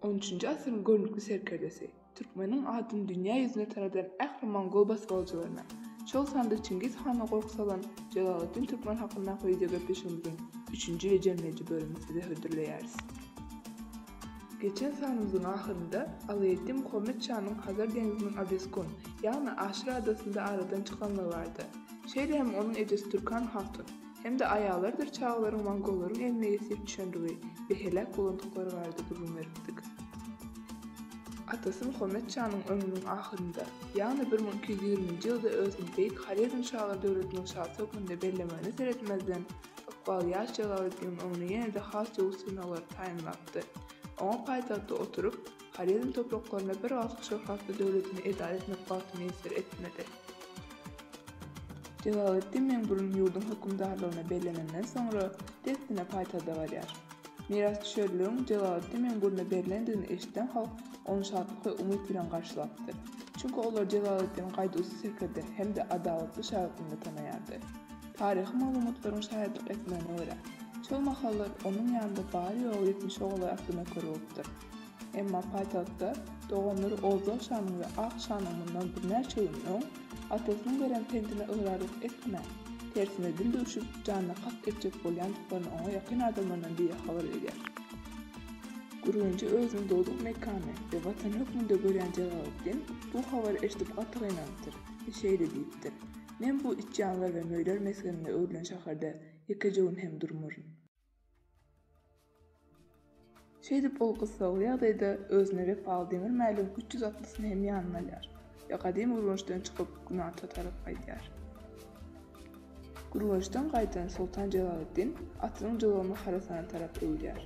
On üçünji asyryň görnükli serkerdesi, türkmeniň adyny dünýä ýüzüne tanadan ähli mongol basgalyjylaryna, şol sanda Çingiz hana gorky salan Jelaleddin Türkmen hakyndaky wideogepleşigimiziň üçünji we jemleýji bölümini size hödürleýäris. Geçen sanymyzyň ahyrynda Alaeddin Muhammet şanyň Hazar deňziniň Abeskun, ýagny Aşyr adasynda aradan çykanlygy bardy. Şeýle hem onuň ejesi Türkan hatun hem-de aýallarydyr çagalaryň mongollaryň eline ýesir düşendigi we heläk bolandyklary barada gürrüň beripdik. Atasy Muhammet şanyň ömrüniň ahyrynda, ýagny bir müň iki ýüz ýigriminji ýylda özüni beýik Horezmşalar döwletiniň şasy hökmünde bellemegine seretmezden, Ykbal ýaş Jalaletdiniň öňüne ýene-de has döwür synaglary taýynlapdy. Oňa paýtagtda oturyp, Horezm topraklarynda bir galkyp şöhratly döwletini edara etmek bagty miýesser etmedi. Jalaletdin Meňburun ýurduň hökümdarlygyna bellenenden soňra, dessine paýtagda barýar. Mirasdüşerligiň Jalaletdin Meňburuna berlendigini eşiden halk ony şatlyk we umyt bilen garşylapdyr. Çünki olar Jalaletdini gaýduwsyz serkerde hem-de adalatly şa hökmünde tanaýardy. Taryhy maglumatlaryň şaýatlyk etmegine görä, şol mahallar onuň ýanynda bary-ýogy ýetmiş ogly atly nöker bolupdyr. Emma paýtagtda doganlary Oldal şanyň we Ak şanyň mundan birnäçe gün öň atasynyň beren pentine ygrarlyk etmän, tersine dil döwşüp, janyna kast etjek bolýandyklaryny oňa ýakyn adamlaryndan biri habar berýär. Gürgenji özüniň dogduk mekany we watany hökmünde görýän Jelaleddin bu habary eşidip gaty gynanypdyr we şeýle diýipdir, Men bu itjanlar we möýler mesgenine öwrülen şäherde ýekeje gün hem durmaryn. Şeýdip, ol gyssagly ýagdaýda özüne wepaly demir mäligiň üç ýüz atlysyny hem ýanyna alýar we gadymy Gürgençden çykyp, günorta tarap gaýdýar. Gürgençden gaýdan soltan Jelaleddin atynyň jylawyny Horasana tarap öwürýär.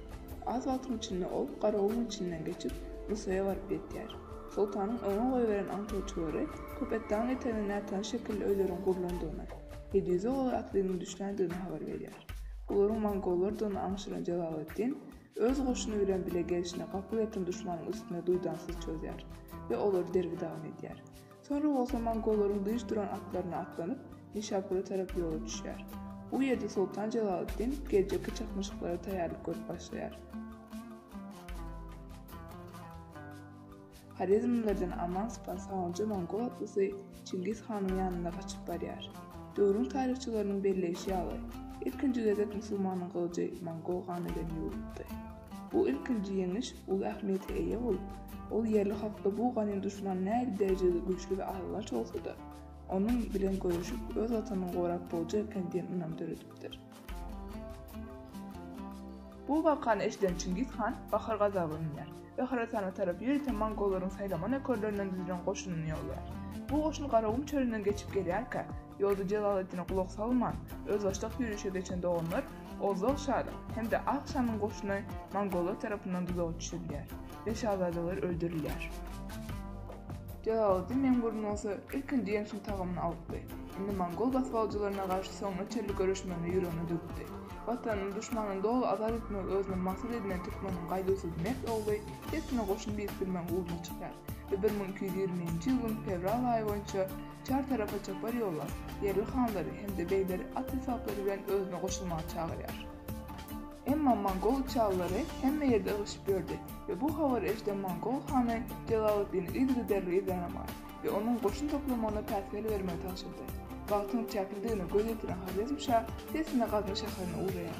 Az wagtyň içinde ol Garagumuň içinden geçip, Nusaýa baryp ýetýär. Soltanyň oňa goýberen aňtaýçylary Köpetdagyň etegine nätanyş şekilli öýleriň gurlandygyny, Hedýuze olar atlynyň düşländigini habar berýär. Bularyň mongollardygyny aňşyran Jelaletdin öz goşuny bilen bile gelşine gapyl ýatan duşmanyň üstüne duýdansyz çözýär we olary derbi-dagyn edýär. Soňra bolsa mongolaryň dynç duran atlaryna atlanyp, Nişapura tarap ýola düşýär. Bu ýerde Soltan Jelaleddin geljekki çaknyşyklara taýýarlyk görüp başlaýar. Horezmlilerden aman sypan sawunja mongol atlysy Çingiz hanyň ýanyna gaçyp barýar. Döwrüň taryhçylarynyň belleýşi ýaly, ilkinji gezek musulmanyň gylyjy mongol gany bilen ýuwlupdy. Bu ilkinji ýeňiş uly ähmiýete eýe bolup, ol ýerli halkda bu ganym duşman nähili derejede güýçli we alygaç bolsa-da, onuň bilen göreşip, öz Watanyny gorap boljak eken diýen ynam döredipdir. Bu wakany eşiden Çingiz han bahar gazabyna müner we Horasana tarap ýörite mongollaryň saýlama nökerlerinden düzülen goşunyny ýollaýar. Bu goşun Garagum çölünden geçip gelýärkä, Ýozdy Jelaletdine gulak salman, özbaşdak ýörişe geçen doganlar Ozal şalyň hem-de Ak şanyň goşuny mongollar tarapyndan duzaga düşürilýär we şazadalar öldürilýär. Jelaleddin Meňburun bolsa ilkinji ýeňşiň tagamyny alypdy. Indi mongol basybalyjylaryna garşy soňuna çenli göreşmegini ýüregine dökdi. Watanyny duşmandan doly azat etmegi özüne maksat edinen türkmeniň gaýduwsyz mert ogly dessine goşun birikdirmegiň ugruna çykýar we bir müň iki ýüz ýigrimi birinji ýylyň fewral aýy boýunça Çar tarapa çapar ýollar, ýerli hanlary hem-de begleri at esbaplary bilen özüne goşulmaga çagyrýar. Emma mongol çallary hemme ýerde ygyşyp ýördi we bu habary eşiden mongol hany Jelaleddini yzygiderli yzýanamagy we onuň goşun toplamagyna päsgel bermegi tabşyrdy. Wagtyň çäklidigine göz ýetiren Horezm şa sesine Gazny şäherine ugraýar.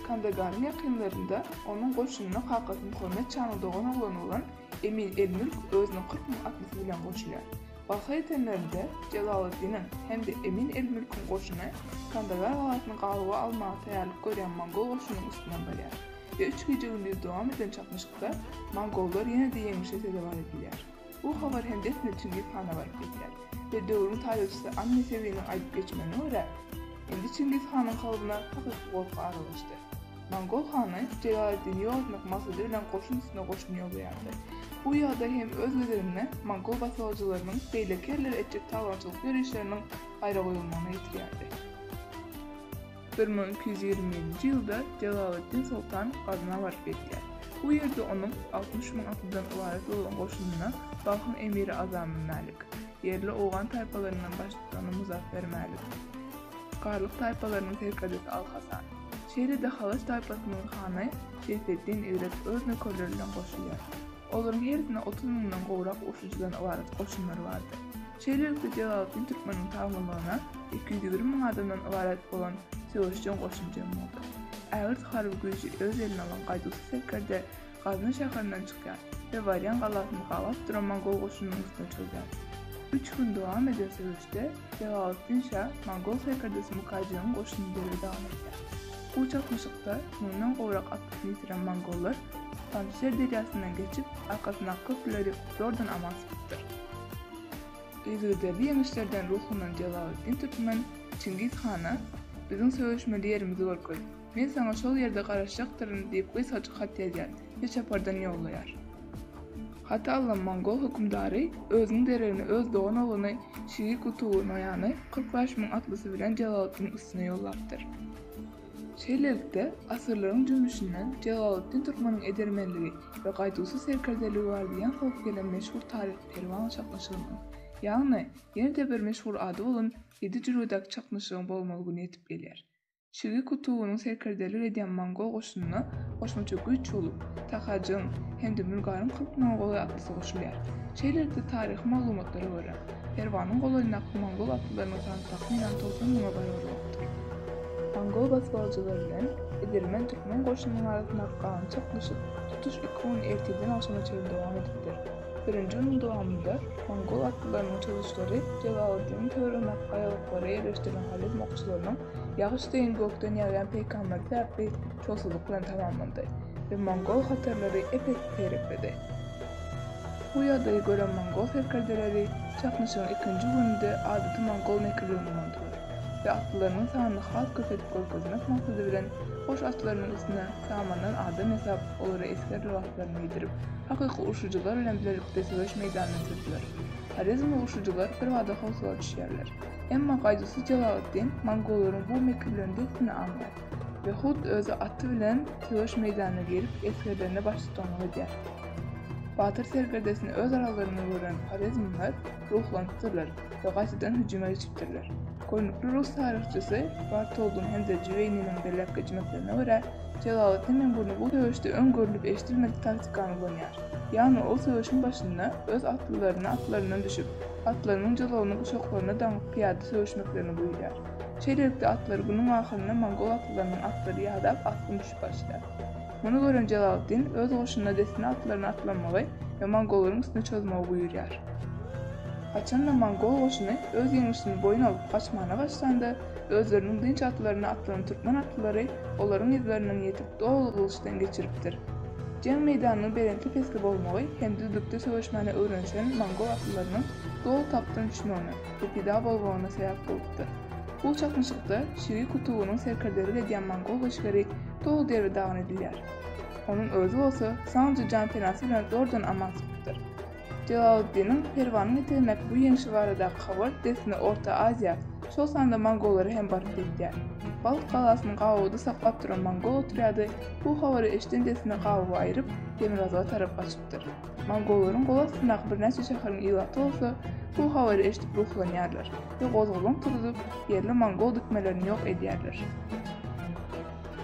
Kandagaryň ýakynlarynda onuň goşunyna kakasynyň hormat çany dogan oglany bolan Emin el-Mülk özüniň kyrk müň atlysy bilen goşulýar. Barha ýetenlerinde Jelaleddiniň hem-de Emin el-Mülküň goşuny Kandagar galasyny gabawa almaga taýýarlyk görýän mongol goşunynyň üstünden barýar we üç gije-gündiz dowam eden çaknyşykda mongollar ýene-de ýeňlişe sezewar edilýär. Bu habar hem dessine Çingiz hana baryp ýetýär we döwrüň taryhçysy An Nesewiniň aýdyp geçmegine görä, indi Çingiz hanyň kalbyna hakyky gorky aralaşdy. Mongol hany Jelaletdini ýogatmak maksady bilen goşun üstüne goşun ýollaýardy. Bu ýagdaý hem öz gezeginde mongol basybaljylarynyň beýleki ýerlere etjek talaňçylyk ýörişleriniň gaýra goýulmagyna getirýärdi. Bir müň iki ýüz ýigrimi birinji ýylda Jelaleddin soltan Gazna baryp ýetýär. Bu ýerde onuň altmyş müň atlydan ybarat bolan goşunyna Balhyň emiri Azamy Mälik, ýerli owgan taýpalaryndan baştutany Muzapper Mälik, Garlyk taýpalarynyň serkerdesi Al-Hasan. Şeýle-de Halaç taýpasynyň hany Seýfeddin Eýrek öz nökerleri bilen goşulýar. Olaryň hersinde otuz müňden gowrak urşujydan ybarat goşunlary bardy. Şeýlelikde Jelaleddin Türkmeniň tabynlygyna iki ýüz ýigrimi müň adamdan ybarat bolan söweşjeň goşun jem boldy. Ägirt harby güýji öz eline alan gaýduwsyz serkerde Gazna şäherinden çykýar we Warýan galasyny gabap duran mongol goşunynyň üstüne çozýar. Üç gün dowam eden söweşde Jelaleddin şa mongol serkerdesi Mukajygyň goşunyny derbe dagyn edýär. Bu çaknyşykda müňden gowrak atlysyny ýitiren mongollar Panjşer derýasyndan geçip, arkasyndaky köprüleri zordan aman sypypdyr. Yzygiderli ýeňişlerden ruhlanan Jelaleddin Türkmen Çingiz hana, Biziň söweşmeli ýerimizi görkez. Men saňa şol ýerde garaşjakdyryn, diýip gysgajyk hat ýazýar we çapardan ýollaýar. Haty alan mongol hökümdary özüniň deregine öz dogan ogluny Şigi Kutuwy Noýany kyrk bäş müň atlysy bilen Jelaleddiniň üstüne ýollapdyr. Şeýlelikde, asyrlaryň jümmüşinden Jelaleddin Türkmeniň edermenligi we gaýduwsyz serkerdeligi bar diýen howp gelen meşhur taryhy perwan çaknyşygynyň, ýagny ýene-de bir meşhur ady bolan Ýedi jülgedäki çaknyşygyň bolmaly güni ýetip gelýär. Çilgi kutugynyň serkerdelik edýän mongol goşunyna goşmaça güýç bolup, Takajygyň hem-de Mülgaryň kyrk mongoly atlysy goşulýar. Şeýlelikde, taryhy maglumatlara görä, Perwanyň golaýyndaky mongol atlylarynyň sany takmynan togsan müňe barabar bolupdyr. Mongol basybalyjylar bilen Idirmen türkmen goşunynyň arasyndaky galynçak duşuşyk tutuş iki gün ertirden agşama çenli dowam edipdir. Birinji günüň dowamynda mongol atlylarynyň çozuşlary Jalaluddiniň töweregindäki gaýalyklara ýerleşdirilen horezm okçularynyň ýagyş deýin gökden ýagýan peýkamberi sebäpli şowsuzlyk bilen tamamlandy we mongol hatarlary ep-esli seýrekledi. Bu ýagdaýy gören mongol serkerdeleri çaknyşygyň ikinji gününde adaty mongol mekirligini ulandylar. we atlylarynyň sanyny has köp edip görkezmek maksady bilen goş atlarynyň üstüne samandan adam ýasap, olara esger lybaslaryn geýdirip, hakyky urşujylar bilen bilelikde söweş meýdanyna sürdüler. Horezmli urşujylar birbada howsala düşýärler. Emma gaýduwsyz Jelaleddin mongollaryň bu mekirlendigisini aňýar we hut özi aty bilen söweş meýdanyna girip, esgerlerine baştutanlyk edýär. Batyr serkerdesini öz aralarynda gören horezmliler ruhlanypdyrlar we gaýtadan hüjüme geçipdirler. Görnükli rus taryhçysy Bartoldyň hem-de Jüweýniniň belläp geçmeklerine görä, Jelaletdin Mengurly bu söweşde öň görlüp-eşidilmedik taktikany ulanýar. Ýagny ol söweşiň başynda öz atlylaryna atlaryndan düşüp, atlarynyň jalawyny guşaklaryna daňyp pyýada söweşmeklerini buýurýar. Şeýlelikde, atlary günüň ahyrynda mongol atlylarynyň atlary ýadap, asgyn düşüp başlaýar. Muny gören Jelaleddin öz goşunyna dessine atlaryny atlanmagy we mongollaryň üstüne çozmagy buýurýar. Haçanda mongol goşuny öz ýeňlişini boýun alyp gaçmana başlanda, özleriniň dynç atlaryna atlanan türkmen atlylary olaryň yzlarynyň ýetip doly gylyçdan geçiripdir. Jeň meýdanynyň belentli-pesli bolmagy hem düzlükde söweşmäne öwrenişen mongol atlylarynyň doly tapdan düşmegine we pida bolmagyna sebäp bolupdyr. Bu çaknyşykda Şiri Kutuwynyň serkerdelik edýän mongol goşgeri dogry derdi dagyn edilýär. Onuň özi bolsa sanjy janpenasy bilen zordan aman çykypdyr. Jelaleddiniň Perwanyň ýetirmek bu ýeňşi baradaky habar dessine Orta Aziýa, şol sanda mongollara hem baryp ýetýär. Balt galasyny gabawda saklap duran mongol otrýady bu habary eşiden dessine gabawy aýryp, demirgazyga tarap gaçypdyr. Mongollaryň gol astyndaky birnäçe şäheriň ilaty bolsa bu habary eşidip ruhlanýarlar we gozgalaň turuzyp, ýerli mongol dikmelerini ýok edýärler.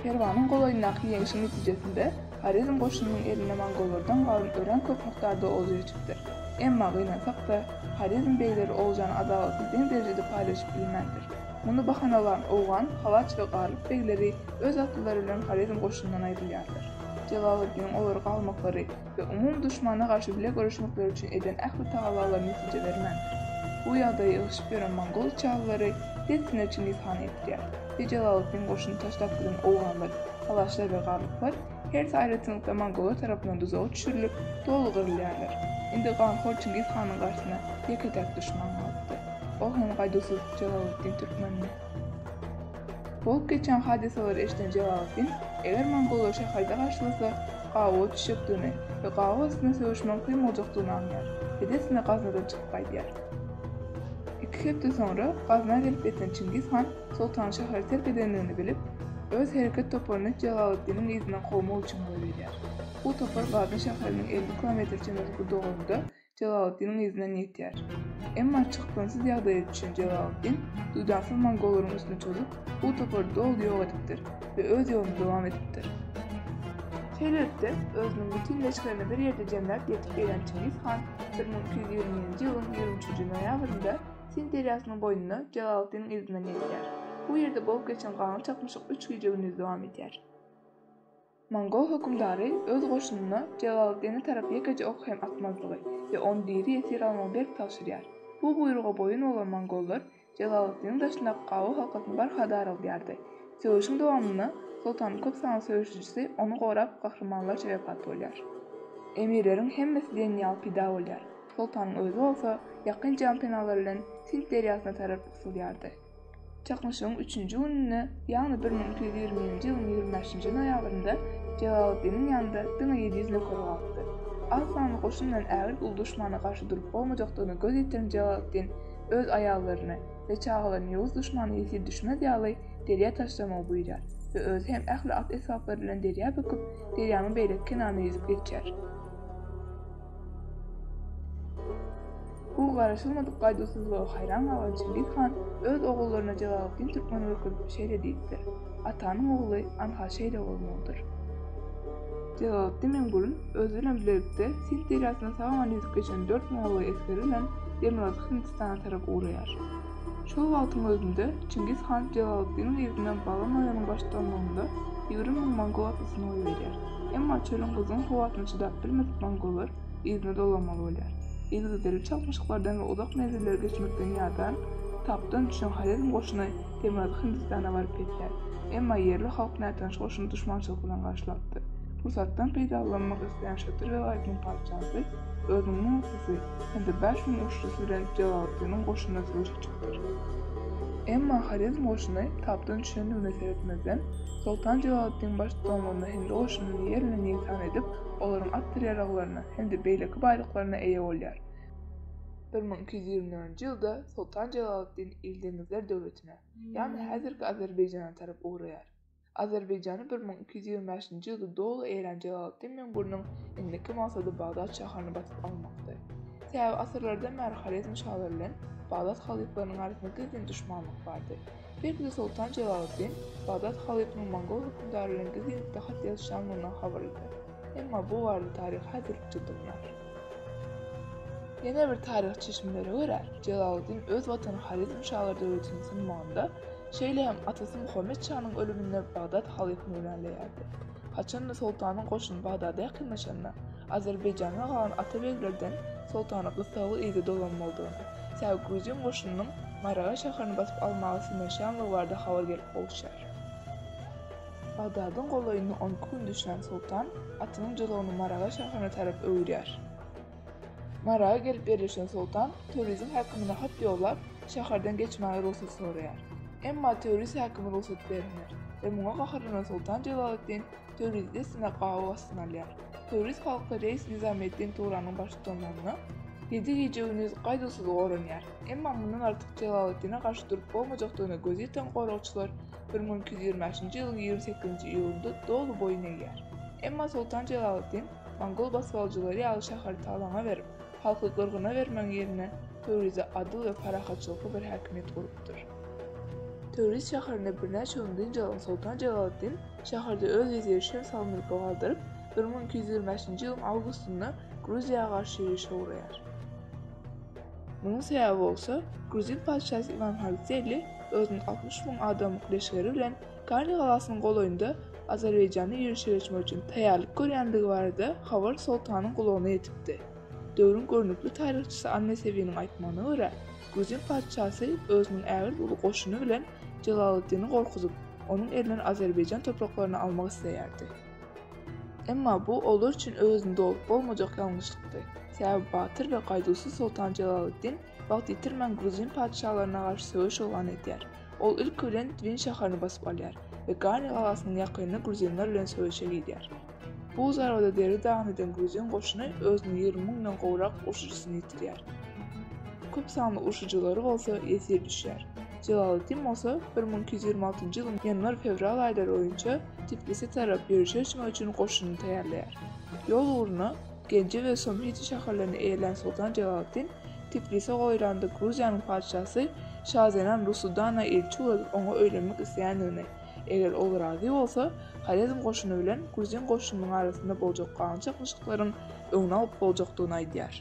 Perwanyň golaýyndaky ýeňşiň netijesinde Horezm goşunynyň eline mongollardan galan örän köp mukdarda olja geçipdir. Emma gynansak-da, Horezm begleri oljany adalatsy deň derejede paýlaşyp bilmändir. Muny bahanalan owgan, halaç we garlyk begleri öz atlylary bilen Horezm goşunyndan aýrylýarlar. Jelaleddiniň olary galmaklary, we umumy duşmana garşy bile göreşmekleri üçin eden ähli tagallalary netije bermän, bu ýagdaýy ýygşyp ýören mongol çaglary dessine Çingiz hany ýetýär we Jelaleddin goşunyny taşlap giden owganlar, halaşlar we garlyklar hersi aýratynlykda mongollar tarapyndan duzaga düşürilip, doly gyrylýarlar. Indi ganhor Çingiz hanyň garşysyna ýeke-täk duşman galypdyr. Ol hem gaýduwsyz Jelaleddin Türkmendi. Bolup geçen hadysalary eşiden Jelaletdin, eger mongollar şäherde garşylasa, gawa düşjekdigini we gawa üstüne söweşmegiň kyn boljakdygyny aňýar. Edesine Gaznadan çykyp gaýdýar. Iki hepde soňra Gazna gelip ýeten Çingiz han soltanyň şäheri terk edendigini bilip, öz hereket toparyny Jelaletdiniň yzyndan kowmak üçin goýberýär. Bu topar Gazna şäheriniň elli kilometr çemesi gudagynda Jelaleddiniň yzyndan ýetýär. Emma çykgynsyz ýagdaýa düşen Jelaleddin duýdansyz mongollaryň üstüne çozup, bu topary doly ýok edipdir we öz ýoluny dowam edipdir. Şeýlelikde, özüniň bütin leşgerini bir ýerde jemläp ýetip gelen Çingiz han bir müň iki ýüz ýigrimi birinji ýylyň ýigrimi üçünji noýabrynda Sind derýasynyň boýunda Jelaleddiniň yzyndan ýetýär. Bu ýerde bolup geçen ganly çaknyşyk üç gije-gündiz dowam edýär. Mongol hökümdary öz goşunyna Jelaleddine tarap ýekeje ok hem atmazlygy we ony diri ýesir almagy berk tabşyrýar. Bu buýruga boýun bolan mongollar Jelaleddiniň daşyndaky Gawo halkasyny barha daraldýardy. Söweşiň dowamynda soltanyň köp sanly söweşijisi ony gorap gahrymanlarça wepat bolýar. Emirleriň hemmesi diýen ýaly pida bolýar. Soltanyň özi bolsa ýakyn janpenalar bilen Sind derýasyna tarap gysylýardy. Çaknyşygyň üçünji gününde, ýagny bir müň iki ýüz ýigrimi birinji ýylyň ýigrimi bäşinji noýabrynda Jelaleddiniň ýanynda diňe ýedi ýüz nökeri galdypdy. Az sanly goşun bilen ägirt uly duşmana garşy durup bolmajakdygyna göz ýetiren Jelaleddin öz aýallaryny we çagalaryny ýowuz duşmana ýesir düşmez ýaly derýa taşlamagy buýrýar we özi hem ähli at-esbaplary bilen derýa böküp, derýanyň beýleki kenaryna ýüzüp geçýär. Bu garaşylmadyk gaýduwsyzlyga haýran galan Çingiz han öz ogullaryna Jelaletdin türkmeni görkezip şeýle diýipdir, Atanyň ogly anha şeýle bolmalydyr. Jelaletdin Mengülün özi bilen bilelikde Sind derýasyndan sag-aman ýüzüp geçen dört mollay esgeri bilen demirgazyk Hindistana tarap ugraýar. Şol wagtyň özünde Çingiz han Jelaleddiniň yzyna Baba Noýanyň baştutanlygynda ýigrimi müň mongol atlysyny goýberýär. Emma çölüň gyzgyn howasyna çydap bilmedik mongollar yzyna dolanmaly bolýar. Yzygiderli çalyşmazlyklardan we uzak menzilleri geçmekden ýadan, tapdan düşen Horezm goşuny Demirgazyk Hindistana baryp ýetýär. Emma ýerli halk nätanyş goşuny duşmançylyk bilen garşylapdyr. Pursatdan peýdalanmak isleýän Şatyr welaýatynyň patyşasy özüniň müň atlysy, hem-de bäş müň uçlusy bilen Jelalletdiniň goşunyna söweşe çykdylar. Emma Horezm goşuny tapdan düşendigine seretmezden, soltan Jelalletdin baş tutanlygynda hindi goşunyny ýer bilen ýegsan edip, olaryň at-tirýaragylaryna hem-de beýleki baýlyklaryna eýe bolýar. Bir müň iki ýüz ýigrimi dördünji ýylda soltan Jelalletdin Ildeňizler döwletine, ýagny häzirki Azerbaýjana tarap ugraýar. Azerbaýjany bir müň iki ýüz ýigrimi bäşinji ýylda doly eýran jelaltdy Meň Gürniň indiki maksady Bagdat şaharyny basyp almakdy. Sebäbi asyrlardan bäri Horezm şalary bilen Bagdat halyplarynyň arasynda gizlin duşmanlyk bardy. Belki-de Soltan Jelaleddin Bagdat halypynyň mongol hökümdary bilen gizlinlikde hat ýazyşanlygyndan habarlydyr. Emma bu barada taryh häzirlikçe dymýar. Ýene bir taryh çeşmelere görä, Jelaleddin öz watany Horezm şalary döwletini synmagynda, Şeýle hem atasy Muhammet şanyň ölüminde Bagdat halyfa güwänleýärdi. Haçanda soltanyň goşuny Bagdada ýakynlaşanda, Azerbaýjanda galan atabeglerden soltana gyssagly yza dolanmalydygyny, sebäbi gruzin goşunynyň Maraga şäherini basyp almaga synanyşýanlygy barada habar gelip gowuşýar. Bagdadyň golaýynda on iki gün düşlän soltan atynyň jylawyny Maraga şäherine tarap öwürýär. Maraga gelip ýerleşen soltan Töwriziň häkimine hat ýollap, şäherden geçmäge rugsat soraýar. Emma Töwriz häkimi rugsat bermeýär we muňa gaharlanan soltan Jelaleddin Töwrizi dessine gabaw astyna alýar. Töwriz halky reis Nyzameddin Tugranyň baştutanlygynda ýedi gije-gündiz gaýduwsyz goranýar. Emma mundan artyk Jelaleddine garşy durup bolmajakdygyna gözi ýeten goragçylar bir müň iki ýüz ýigrimi bäşinji ýylyň ýigrimi sekizinji iýulynda doly boýun egýär. Emma soltan Jelaleddin Mongol basgalyjylary ýaly şäheri talaňa berip, halky gyrgyna bermegiň ýerine Töwrizde adyl we parahatçylykly bir häkimiýet gurupdyr. Töwriz şäherinde birnäçe gün dynç alan Soltan Jelaleddin şäherde öz weziri Şems al-Mülki galdyryp, bir müň iki ýüz ýigrimi bäşinji ýylyň awgustynda Gruziýa garşy ýörişe ugraýar. Munuň sebäbi bolsa, gruzin patyşasy Iwan Halzeli özüniň altmyş müň adamlyk leşgeri bilen Kany galasynyň golaýynda Azerbaýjanda ýörişe geçmek üçin taýýarlyk görýändigi barada habar Soltanyň gulagyna ýetipdi. Döwrüň görnükli taryhçysy Annetewiniň aýtmagyna görä, gruzin patyşasy özüniň ägirt uly goşuny bilen Jelaleddini gorkuzyp, onuň elinden Azerbaýjan topraklaryny almak isleýärdi. Emma bu olar üçin öwezini dolup bolmajak ýalňyşlykdy. Sebäbi batyr we gaýduwsyz Soltan Jelaleddin wagt ýitirmän gruzin patyşalaryna garşy söweş yglan edýär. Ol ilki bilen Twin şäherini basyp alýar we Gani galasynyň ýakynynda gruzinler bilen söweşe girýär. Bu zarbada Derri dagyny eden gruzin goşuny özüniň ýigrimi müňden gowrak urşujysyny ýitirýär. Köp sanly urşujylary bolsa ýesir düşýär. Jelaleddin bolsa bir müň iki ýüz ýigrimi altynjy ýylyň ýanwar-fewral aýlary boýunça Tiflise tarap ýörişe çymak üçin goşunyny taýýarlaýar. Ýol ugruna Genji we Somhiti şäherlerini eýelän soltan Jelaleddin Tiflise goýulanda Gruziýanyň patyşasy Şazenan Rusudana ilçi ugradyp oňa öýlenmek isleýändigini, eger ol razy bolsa, Horezm goşuny bilen gruzin goşunynyň arasynda boljak galan çaknyşyklaryň öňüni alyp boljakdygyny aýdýar.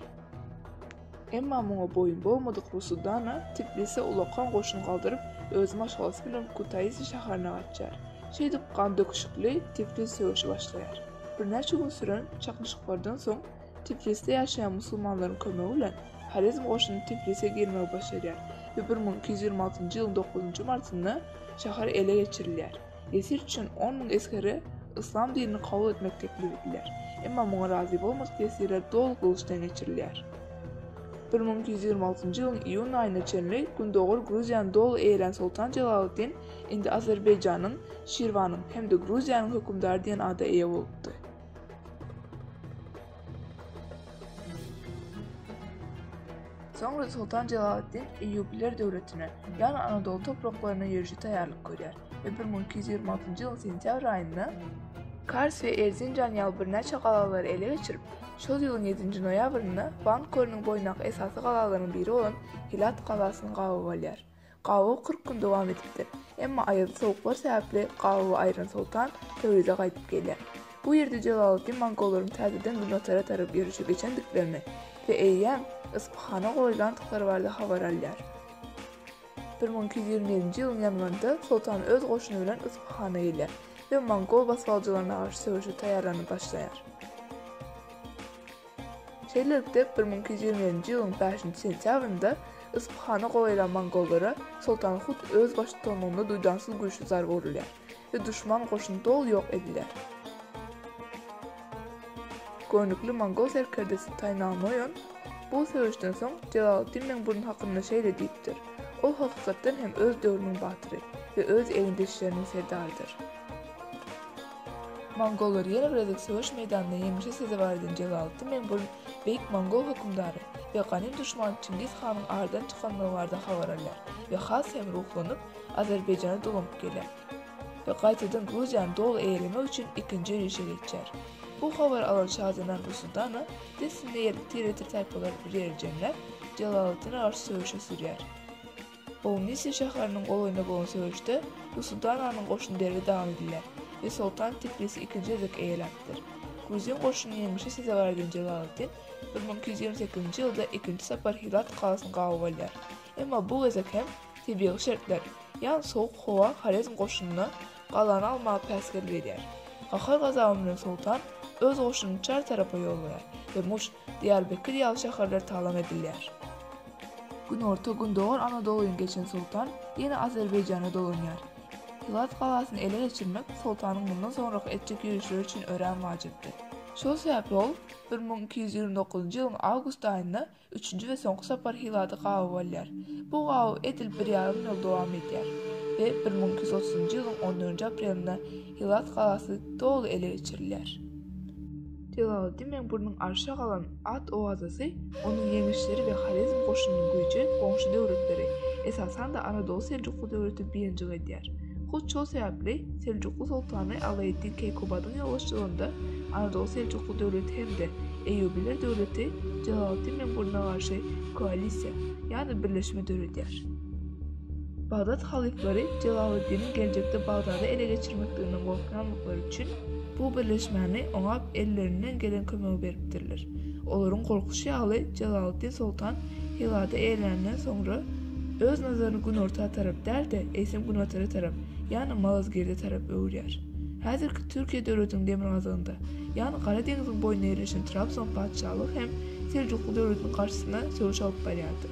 Emma muňa boýun bolmadyk Rusudana Tiblisä ulakan goşun galdyryp, öz maşgalasy bilen Kutaisi şäherine gaçýar. Şeýdip, gandöküşikli Tiflis söweşi başlaýar. Birnäçe gün süren çaknyşyklardan soň, Tiflisde ýaşaýan musulmanlaryň kömegi bilen Horezm goşuny Tiflise girmegi başarýar we bir müň iki ýüz ýigrimi altynjy ýylyň dokuzynjy martynda şäher ele geçirilýär. Ýesir üçin on müň esgere yslam dinini kabul etmek teklip edilýär. Emma muňa razy bolmadyk ýesirler doly gylyçdan geçirilýär. Bir müň iki ýüz ýigrimi altynjy ýylyň iýun aýyna çenli gündogar Gruziýany doly eýelän Soltan Jelaleddin indi Azerbaýjanyň, Şirwanyň hem-de Gruziýanyň hökümdary diýen ada eýe bolupdy. Soňra Soltan Jelaleddin Eýýubiler döwletine, ýagny Anadoly topraklaryna ýörişe taýýarlyk görýär. we bir müň iki ýüz ýigrimi altynjy ýylyň sentýabr aýynda Kars we Erzinjan ýaly birnäçe galalary ele geçirip, şol ýylyň ýedinji noýabrynda Van kölüniň boýundaky esasy galalaryň biri bolan Hilat galasyny gabap alýar. Gabaw kyrk gün dowam edipdir, emma aýazly sowuklar sebäpli gabawy aýran soltan Töwrize gaýdyp gelýär. Bu ýerde Jelaleddin mongollaryň täzeden günbatara tarap ýörişe geçendiklerini we eýýäm Yspyhana goýulandyklary barada habar alýar. Bir müň iki ýüz ýigrimi birinji ýylyň ýanwarynda Soltan öz goşuny bilen Yspyhana gelýär we mongol basgançylaryna garşy söweşe taýýarlanyp başlaýar. Şeýlelikde, bir müň iki ýüz ýigrimi birinji ýylyň bäşinji sentýabrynda Yspyhany gowy eden mongollara Soltan Hut öz baştutanlygynda duýdansyz güýçli zarba urulýar we duşman goşuny doly ýok ediler. Göwnükli mongol serkerdesi Taýnal Noýon bu söweşden soň Jelaleddin Meňburun hakynda şeýle diýipdir, Ol hakykatdan hem öz döwrüniň batyry we öz egindeşleriniň serdarydyr. Mongollary ýene bir gezek söweş meýdanynda ýeňişe sezewar eden Jelaleddin Meňburun beýik mongol hökümdary we ganym duşmany Çingiz hanyň aradan çykanlygy barada habar alýar we has hem ruhlanyp, Azerbaýjana dolanyp geler we gaýtadan Gruziýany doly eýelemek üçin ikinji ýörişe geçer. Bu habary alan şazenan Rusudana dessine ýerli tiretir taýpalar bir ýere jemläp, Jelaleddine garşy söweşe sürýär. Bownisiýa şäheriniň golaýynda bolan söweşde Rusudananyň goşuny derbi dagyn edilýär we soltan Tiflisi ikinji gezek eýeläpdir. Gruzin goşunyny ýeňişe sezewar eden Jelaleddin bir müň iki ýüz ýigrimi sekizinji ýylda ikinji sapar Hirat galasyny gabaw alýar, emma bu gezek hem Tebigy şertler, ýa sowuk howa Horezm goşunyna galany almaga päsgel berýär. Gahar-gazaby bilen soltan öz goşunyny çar tarapa ýollaýar we Muş, Diýarbekir ýaly şäherler talam edilýär. Günorta-gündogar Anadolyny geçen soltan ýene Azerbaýjana dolanýar. Hilat galasyny ele geçirmek soltanyň mundan soňraky etjek ýörişleri üçin örän wajypdy. Şol sebäpli ol bir müň iki ýüz ýigrimi dokuzynjy ýylyň awgust aýynda Üçünji we soňky sapar Hilady gawy bolýar. Bu gawy edil bir ýarym ýyl dowam edýär we bir müň iki ýüz otuzynjy ýylyň on dördünji aprelinde Hilat galasy doly ele geçirilýär. Jelaleddinbeg Burnuň arşa galan at owazasy, onuň ýeňişleri we Horezm goşunynyň güýji goňşy döwletleri, esasan-da Anadoly-Seljukly döwleti biynjik edýär. Hut şol sebäpli Seljukly soltany Alaeddin Keýkubadyň ýolbaşçylygynda Anadolu Seljukly döwleti hem-de Eýýubiler döwleti Jelaleddin Meňburuna garşy koalisiýa, ýagny birleşme döredýär. Bagdat halyflary Jelaleddiniň geljekde Bagdady ele geçirmekliginden gorkýanlyklary üçin bu birleşmäni oňa ellerinden gelen kömegi beripdirler. Olaryň gorkuşy ýaly Jelaleddin soltan Hywada eýerleninden soňra, öz nazaryny günorta tarap däl-de, eýsem günbatara tarap, ýagny Malazgirde tarap öwürýär. Häzirki Türkiýe döwletiniň demirgazygynda, ýagny Gara deňziň boýunda ýerleşen Trabzon patyşalygy hem Seljukly döwletiniň garşysyna söweş alyp barýardy.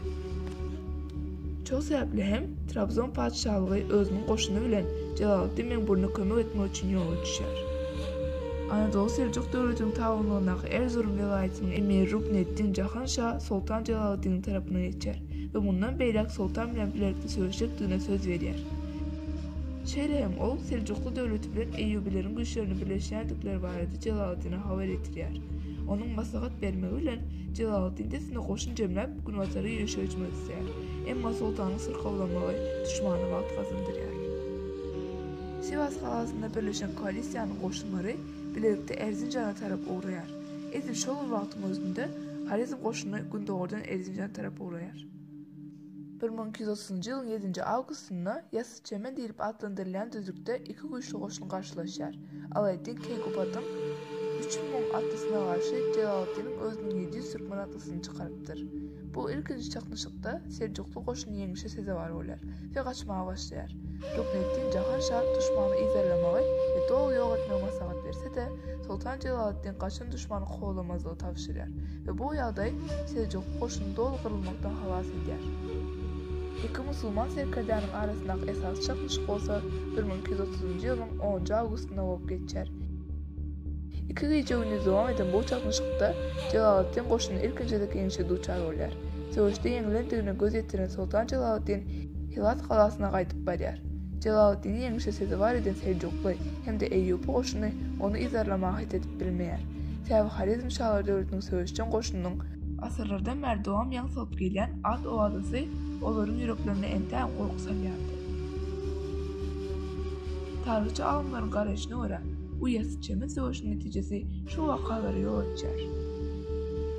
Şol sebäpli hem Trabzon patyşalygy özüniň goşuny bilen Jelaleddin Meňburuna kömek etmek üçin ýola düşýär. Anadoly Seljuk döwletiniň tabynlygyndaky Erzurum welaýatynyň emiri Rukneddin Jahan Aman şa Soltan Jelaleddiniň tarapyna geçýär we mundan beýläk Soltan bilen bilelikde söweşjekdigine söz berýär. Şeýle hem ol Seljukly döwleti bilen Eýýubyleriň güýçlerini birleşýändikleri barada Jelaleddine habar ýetirýär. Onuň maslahat bermegi bilen Jelaleddin dessine goşun jemläp günbatara ýörişe hüjüme düşýär. Emma Soltanyň syrkawlamagy duşmana wagt gazandyrýar. Siwas galasynda birleşen koalisiýanyň goşunlary bilelikde Erzinjana tarap ugraýar. Edil şol bir wagtyň özünde Horezm goşuny gündogardan Erzinjana tarap ugraýar. Bir müň iki ýüz otuzynjy ýylyň ýedinji awgustynda Ýasypçemen diýlip atlandyrylýan düzlükde iki güýçli goşun garşylaşýar, Alaeddin Keýkubatyň üç müň atlysyna garşy Jelaleddiniň özüniň ýedi ýüz türkmen atlysyny çykarypdyr. Bu ilkinji çaknyşykda seljukly goşuny ýeňişe sezewar bolýar we gaçmaga başlaýar. Rukneddin Jahan şa duşmany yzarlamagy we doly ýok etmegi maslahat berse-de, Soltan Jelaleddin gaçan duşmany kowlamazlygy tabşyrýar we bu ýagdaý Seljukly goşuny doly gyrylmakdan halas edýär. Iki musulman serkerdäniň arasyndaky esasy çaknyşyk bolsa bir müň iki ýüz otuzynjy ýylyň onunjy awgustynda bolup geçýär. Iki gije-gündiz dowam eden bu çaknyşykda Jelaleddin goşuny ilkinji gezek ýeňişe duçar bolýar. Söweşde ýeňilendigine göz ýetiren soltan Jelaleddin Hilat galasyna gaýdyp barýar. Jelaleddini ýeňişe sezewar eden seljukly hem-de eýýupy goşuny ony yzarlamaga het edip bilmeýär. Säwihorezm şalar döwletiniň söweşjeň goşunynyň, asyrlardan bäri dowam ýaň salyp gelýän at owazasy olaryň ýüreklerine entägem gorky salýardy. Taryhçy alymlaryň garaýşyna görä, bu ýasyçemen söweşiň netijesi şu wakalara ýol açýar.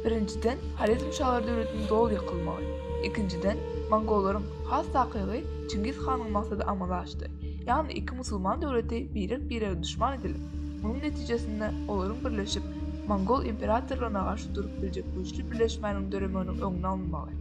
Birinjiden, Horezm şalar döwletiniň doly ýykylmagy. Ikinjiden, mongollaryň, has takygy, Çingiz hanyň maksady amala aşdy. Ýagny iki musulman döwleti birek-birege duşman edilip, munuň netijesinde olaryň birleşip, mongol imperatorlaryna garşy durup biljek güýçli birleşmäniň döremeginiň öňüni almagy.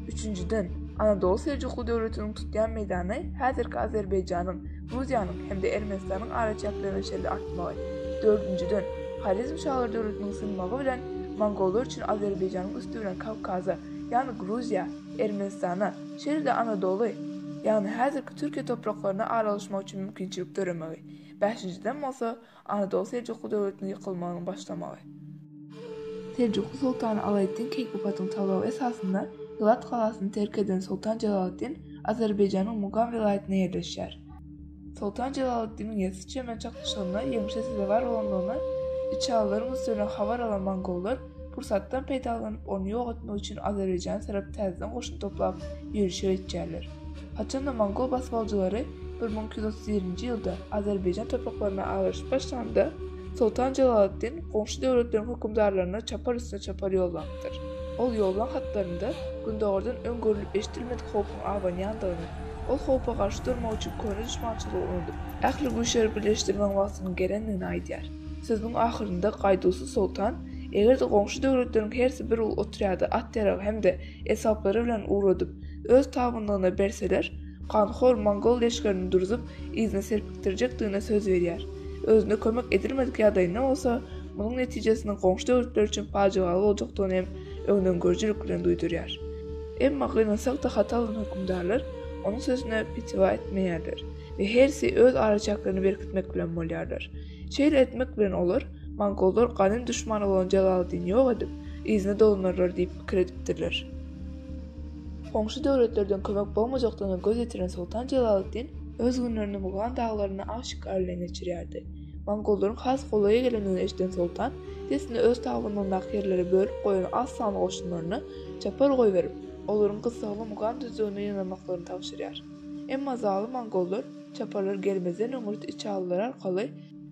Üçünjiden, Anadoly Seljukly döwletiniň tutýan meýdany häzirki Azerbaýjanyň, Gruziýanyň hem-de Ermenistanyň araçäkleriniň şeýle artmagy, dördünjiden, Horezm şalar döwletiniň synmagy bilen mongollar üçin Azerbaýjanyň üsti bilen Kawkaza, ýagny Gruziýa, Ermenistana, şeýle-de Anadoly, ýagny häzirki Türkiýe topraklaryna aralaşmak üçin mümkinçilik döremegi, bäşinjiden bolsa, Anadolu Seljukly döwletiniň ýykylmagynyň başlamagy. Seljukly soltany Alaeddin Keýkubatyň talaby esasynda Hylat galasyny terk eden Soltan Jelaleddin Azerbaýjanyň Mugam welaýatynda ýerleşýär. Soltan Jelaleddiniň Ýessi-Çemen çaknyşygynda ýeňşe sezewar bolandygyny içalylaryň üstüne habar alan mongollar, Pursatdan peýdalanyp, ony ýok etmek üçin Azerbaýjana tarap täzeden goşun toplap, ýörişe geçýärler. Haçanda mongol basybaljylary bir müň iki ýüz otuz birinji ýylda Azerbaýjan topraklaryna agraşyp başlanda, Soltan Jelaleddin goňşy döwletleriň hökümdarlaryna çapar üstüne çapar ýollapdyr. Ol ýollan hatlarynda gündogardan öň görlüp-eşidilmedik howpuň abanýandygyny, ol howpa garşy durmak üçin köne duşmançylygy unudyp, ähli güýçleri birleşdirmegiň wagtynyň gelendigini aýdýar. Sözüniň ahyrynda Gaýduwsyz soltan, Eger-de goňşy döwletleriň hersi bir uly otrýady at-ýarag hem-de esbaplary bilen ugradyp, öz tabynlygyna berseler, ganhor mongol leşgerini durzup, yzyna serpikdirjekdigine söz berýär. Özüne kömek edilmedik ýagdaýynda bolsa, munuň netijesiniň goňşy döwletler üçin pajygaly boljakdygyny hem öňdengörüjilik bilen duýdurýar. Emma gynansak-da hatalanan hökümdarlar onuň sözüne pitiwa etmeýärler. we hersi öz araçäklerini berkitmek bilen bolýarlar. Şeýle etmek bilen olar, mongollar ganym duşmany bolan Jalaleddini ýok edip, yzyna dolanarlar diýip pikir edipdirler. Goňşy döwletlerden kömek bolmajakdygyna göz ýetiren Soltan Jalaleddin öz günlerini Mugan daglarynda aw şikar bilen geçirýärdi. Mongollaryň has golaýa gelendigini eşiden Soltan dessine öz tabynyndaky ýerleri bölüp goýan az sanly goşunlaryna çapar goýberip, olaryň gyssagly Mugan düzlügine ýygnanmaklaryny tabşyrýar. Emma zalym mongollar çaparlar gelmezden öňürti içalylar arkaly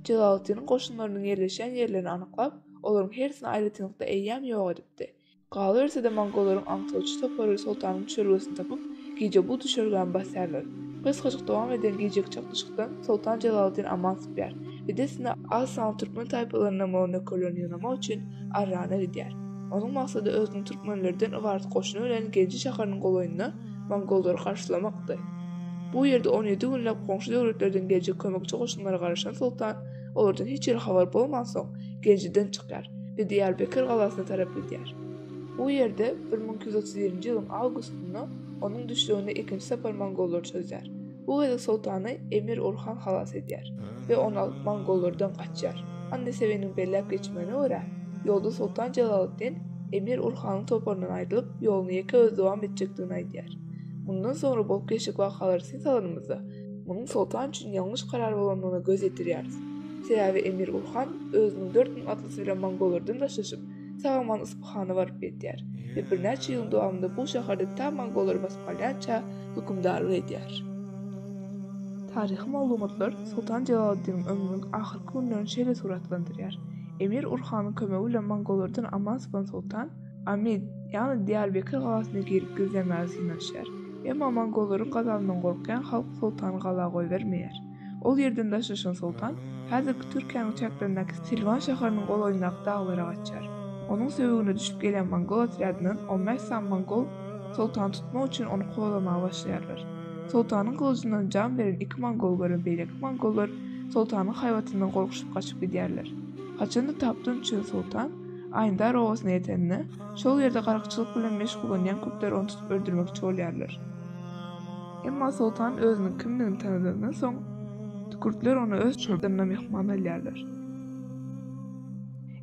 Jelaleddiniň goşunlarynyň ýerleşýän ýerlerini anyklap, olaryň hersini aýratynlykda eýýäm ýok edipdi. Galyberse-de mongollaryň aňtawçy topary soltanyň düşelgesini tapyp, gije bu düşelgäni basýarlar. Gysgajyk dowam eden gijeki çaknyşykdan soltan Jelaleddin aman sypýar we dessine az sanly türkmen taýpalarynyň mol-nökerlerini ýygnamak üçin Arrana gidýär. Onuň maksady özüniň türkmenlerden ybarat goşuny bilen Genji şäheriniň golaýynda mongollary garşylamakdy. Bu ýerde on ýedi günläp goňşy döwletlerden geljek kömekçi goşunlara garaşan soltan, olardan hiç hili habar bolmansoň, Genjiden çykýar we Diýarbekir galasyna tarap gidýär. Bu ýerde bir müň iki ýüz otuz birinji ýylyň awgustynda onuň düşlegini ikinji sapar mongollar çözýär. Bu gezek soltany Emir Orhan halas edýär we ony alyp mongollardan gaçýar. Annasewiniň belläp geçmegine görä, ýolda soltan Jelaleddin Emir Orhanyň toparyndan aýrylyp, ýoluny ýeke özi dowam etjekdigini aýdýar. Mundan soňra bolup geçjek wakalary syn salanymyzda, munuň soltan üçin ýalňyş karar bolandygyna göz ýetirýäris. Sebäbi Emir Orhan özüniň dört müň atlysy bilen mongollardan daşlaşyp, Saman Yspyhana baryp ýetýär we birnäçe ýylyň dowamynda bu şäherde tä mongollara basyp galýança hökümdarlyk edýär. Taryhy maglumatlar Soltan Jelaleddiniň ömrüniň ahyrky günlerini şeýle suratlandyrýar, Emir Urhanyň kömegi bilen mongollardan aman sypan soltan Amid, ýagny Diýarbekir galasyna girip gizlenmäge synanyşýar. Emma mongollaryň gazabyndan gorkýan halk soltany gala goýbermeýär. Ol ýerden daşlaşan soltan häzirki Türkiýäniň çäklerindäki Silwan şäheriniň golaýyndaky daglara gaçýar. Onuň söbügine düşüp gelýän mongol otrýadyndan on bäş sany mongol soltany tutmak üçin ony kowalamaga başlaýarlar. Soltanyň gylyjyndan jan beren iki mongol gören beýleki mongollar soltanyň haýbatyndan gorkuşyp gaçyp gidýärler. Haçan-da Tapdun üçin soltan Aýndar obasyna ýetende, şol ýerde garykçylyk bilen meşgullanýan kürtler ony tutup öldürmekçi bolýarlar. Emma soltan özüniň kimdigini tanadandan soň, kürtler ony öz çadyrynda myhman alýarlar.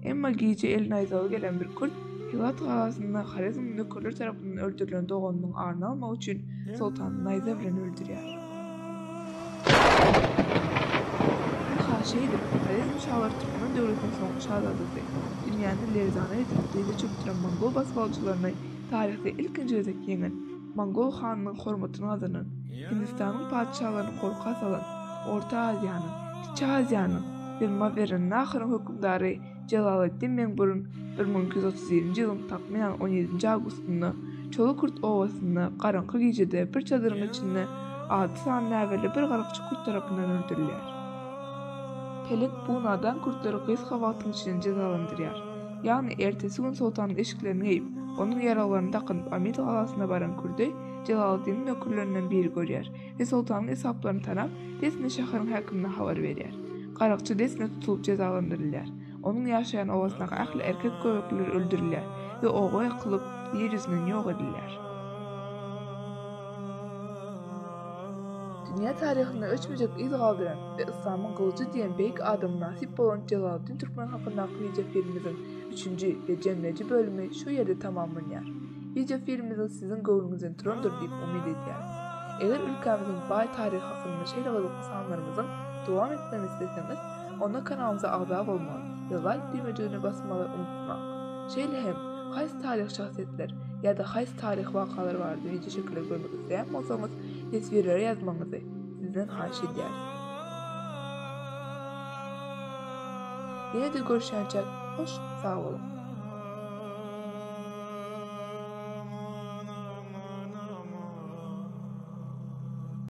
Emma gije el naýzawy gelen bir kürt Hiwat galasynda Horezmiň nökerleri tarapyndan öldürilen doganynyň aryny almak üçin soltany naýza bilen öldürýär. Ynha şeýdip, Horezm şalary türkmen döwletiniň soňky şazadasy, dünýäni lerzana getirip dyza çökdüren mongol basybalyjylaryny taryhda ilkinji gezek ýeňen, Mongol hanynyň hormatyny gazanan, Hindistanyň patyşalaryny gorka salan, Orta Aziýanyň, Kiçi Aziýanyň we Mawerannaharyň hökümdary Jelaleddin Meňburun bir müň iki ýüz otuz ýedinji ýylyň takmynan on ýedinji awgustynda Çolukurt obasynda garaňky gijede bir çadyryň içinde alty sany näbelli bir garakçy kürt tarapyndan öldürilýär. Pelek bu nadan kürtleri gysga wagtyň içinde jezalandyrýar. Ýagny ertesi gün soltanyň eşiklerini geýip, onuň ýaraglaryny dakynyp Amyt galasyna baran kürdi Jelaleddiniň nökerlerinden biri görýär we soltanyň esaplaryny tanap, dessine şäheriň häkimine habar berýär. Garakçy dessine tutulyp jezalandyrylýar. Onuň ýaşaýan obasyndaky ähli erkek göbekliler öldürilýär we oba ýakylyp, ýer ýüzünden ýok edilýär. Dünýä taryhynda öçmejek yz galdyran we Yslamyň gylyjy diýen beýik adama nasip bolan Jelaleddin Türkmen hakyndaky wideofilmimiziň üçünji we jemleýji bölümi şu ýerde tamamlanýar. Wideofilmimiz siziň göwnüňizden turandyr diýip umyt edýäris. Eger ülkämiziň baý taryhy hakynda şeýle gyzykly sanlarymyzyň dowam etmegini isleseňiz, Onda kanalymyza agza bolmagy we laýk düwmejigine basmagy unutmaň. Şeýle hem, haýsy taryhy şahsyýetler ýa-da haýsy taryhy wakalar barada wideoçekileri görmek isleýän bolsaňyz, teswirlere ýazmagyňyzy sizden haýyş edýäris. Ýene-de görüşýänçäk, hoş sag boluň!